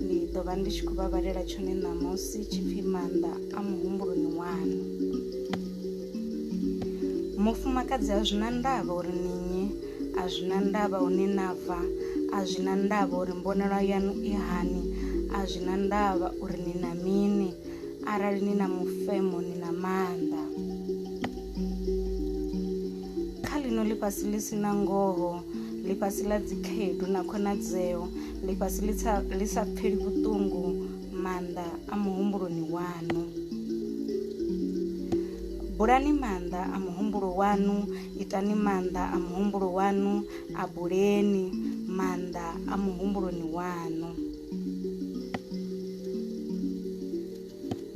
Ndi ḓo vha ndi tshi khou vha vhalela tshone ṋamusi tshipfi maanḓa a muhumbuloni waṋu. Mufumakadzi a zwina ndavha uri ni nnyi, a zwina ndavha hune na bva, a zwina ndavha uri mbonelwa yaṋu i hani, a zwina ndavha uri ni na mini, arali ni na mufemo ni na maanḓa. Kha ḽino ḽifhasi ḽi si na ngoho, ḽifhasi ḽa dzikhaedu na khonadzeo, ḽifhasi ḽi sa ḽi sa pfheli vhuṱungu maanḓa a muhumbuloni waṋu bulani maanḓa a muhumbulo waṋu itani maanḓa a muhumbulo waṋu a buleni maanḓa a muhumbuloni waṋu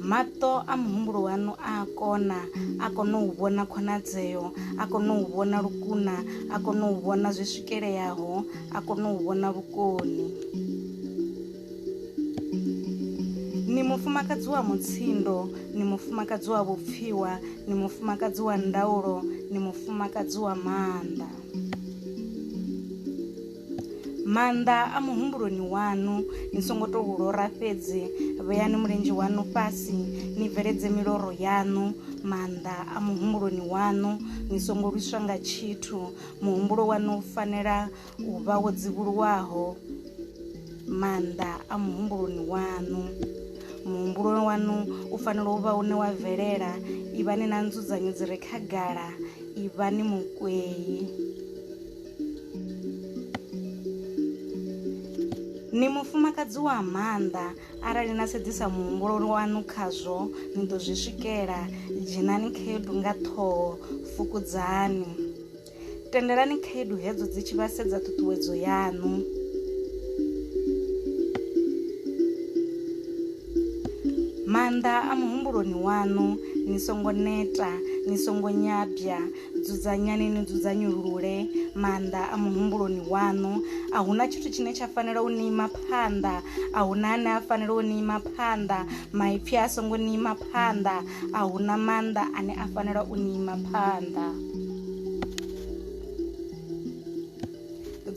Maṱo a muhumbulo waṋu a a kona, a kona u vhona khonadzeo, a kona u vhona lukuna, a kona u vhona zwi swikeleaho, a kona u vhona vhukoni. Ni mufumakadzi wa mutsindo, ni mufumakadzi wa vhupfiwa, ni mufumakadzi wa ndaulo, ni mufumakadzi wa maanḓa. Maanḓa a muhumbuloni waṋu, ni songo tou lora fhedzi. Vheani mulenzhe waṋu fhasi, ni bveledze miloro yaṋu. Maanḓa a muhumbuloni waṋu, ni songo lwiswa nga tshithu. Muhumbulo waṋu u fanela u vha wo dzivhuluwaho. Maanḓa a muhumbuloni waṋu, muhumbulo waṋu u fanela u vha une wa bvelela. Ivhani na nzudzanyo dzi re khagala, ivhani mukwei. Ni mufumakadzi wa maanḓa arali na sedzisa muhumbulo waṋu khazwo ni ḓo zwi swikela dzhenani khaedu nga ṱhoho fukudzani tendelani khaedu hedzo dzi tshi vha sedza ṱhuṱhuwedzo yaṋu maanḓa a muhumbuloni waṋu ni songo neta ni songo nyabya Dzudzanyani ni dzudzanyulule maanḓa a muhumbuloni waṋu. A hu na tshithu tshine tsha fanela u ni ima phanḓa. A hu na ane a fanela u ni ima phanḓa. Maipfi a songo ni ima phanḓa. A hu na maanḓa ane a fanela u ni ima phanḓa.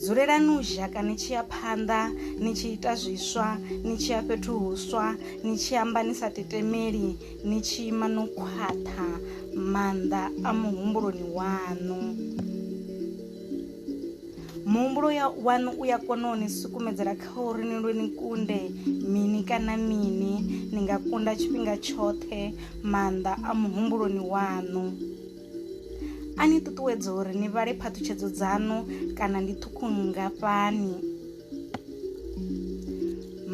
dzulelani u zhaka ni tshi ya phanḓa ni tshi ita zwiswa ni tshi ya fhethu huswa ni tshi amba ni sa tetemeli ni tshi ima no khwaṱha maanḓa a muhumbuloni waṋu muhumbulo waṋu u ya kona u ni sukumedzela kha uri ni lwe ni kunde mini kana mini ni nga kunda tshifhinga tshoṱhe maanḓa a muhumbuloni waṋu a ni ṱuṱuwedza uri ni vhale phaṱhutshedzo dzaṋu kana ndi ṱhukhu nngafhani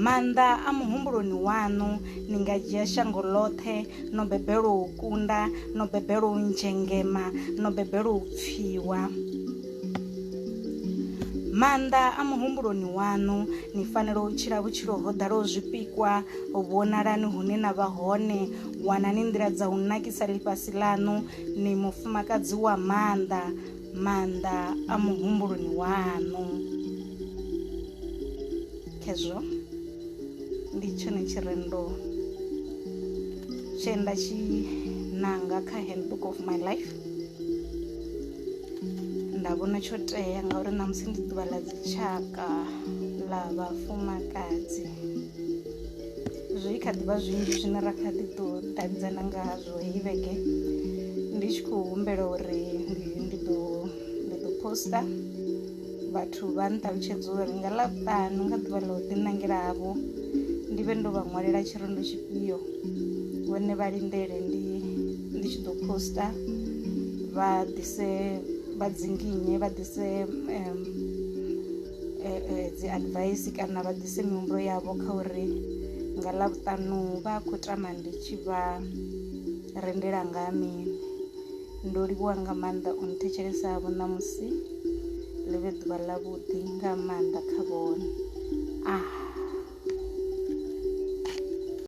maanḓa a muhumbuloni waṋu ni nga dzhia shango ḽoṱhe no bebelwa u kunda no bebelwa u nzhengema no bebelwa u pfiwa maanḓa a muhumbuloni waṋu ni fanela u tshila vhutshilo ho ḓalaho zwipikwa vhonalani hune na vha hone wanani nḓila dza u nakisa ḽifhasi ḽaṋu ni mufumakadzi wa maanḓa maanḓa a muhumbuloni waṋu khezwo ndi tshone tshirendo tshe nda tshi nanga kha handbook of my life nda vhona tsho tea ngauri ṋamusi ndi ḓuvha ḽa dzitshaka ḽa vhafumakadzi zwi kha ḓivha zwinzhi zwine ra kha ḓi ḓo davhidzana ngazwo heyi vhege ndi tshi khou humbela uri ndi ḓo ndi ḓo posta vhathu vha nṱalutshedza uri nga ḽavhutanu nga ḓuvha ḽa u ḓiṋangela havho ndi vhe ndo vha ṅwalela tshirendo tshifhio vhone vha lindele ndi ndi tshi ḓo posta vha ḓise vha dzinginye vha ḓise um, eh, eh, dzi advice kana vha ḓise mihumbulo yavho kha uri nga ḽa vhuṱanu vha khou tama ndi tshi vha rendela nga mini ndo livhuwa nga maanḓa u nthetshelesa vho ṋamusi ḽi vhe ḓuvha ḽa vhuḓi nga maanḓa kha vhone ah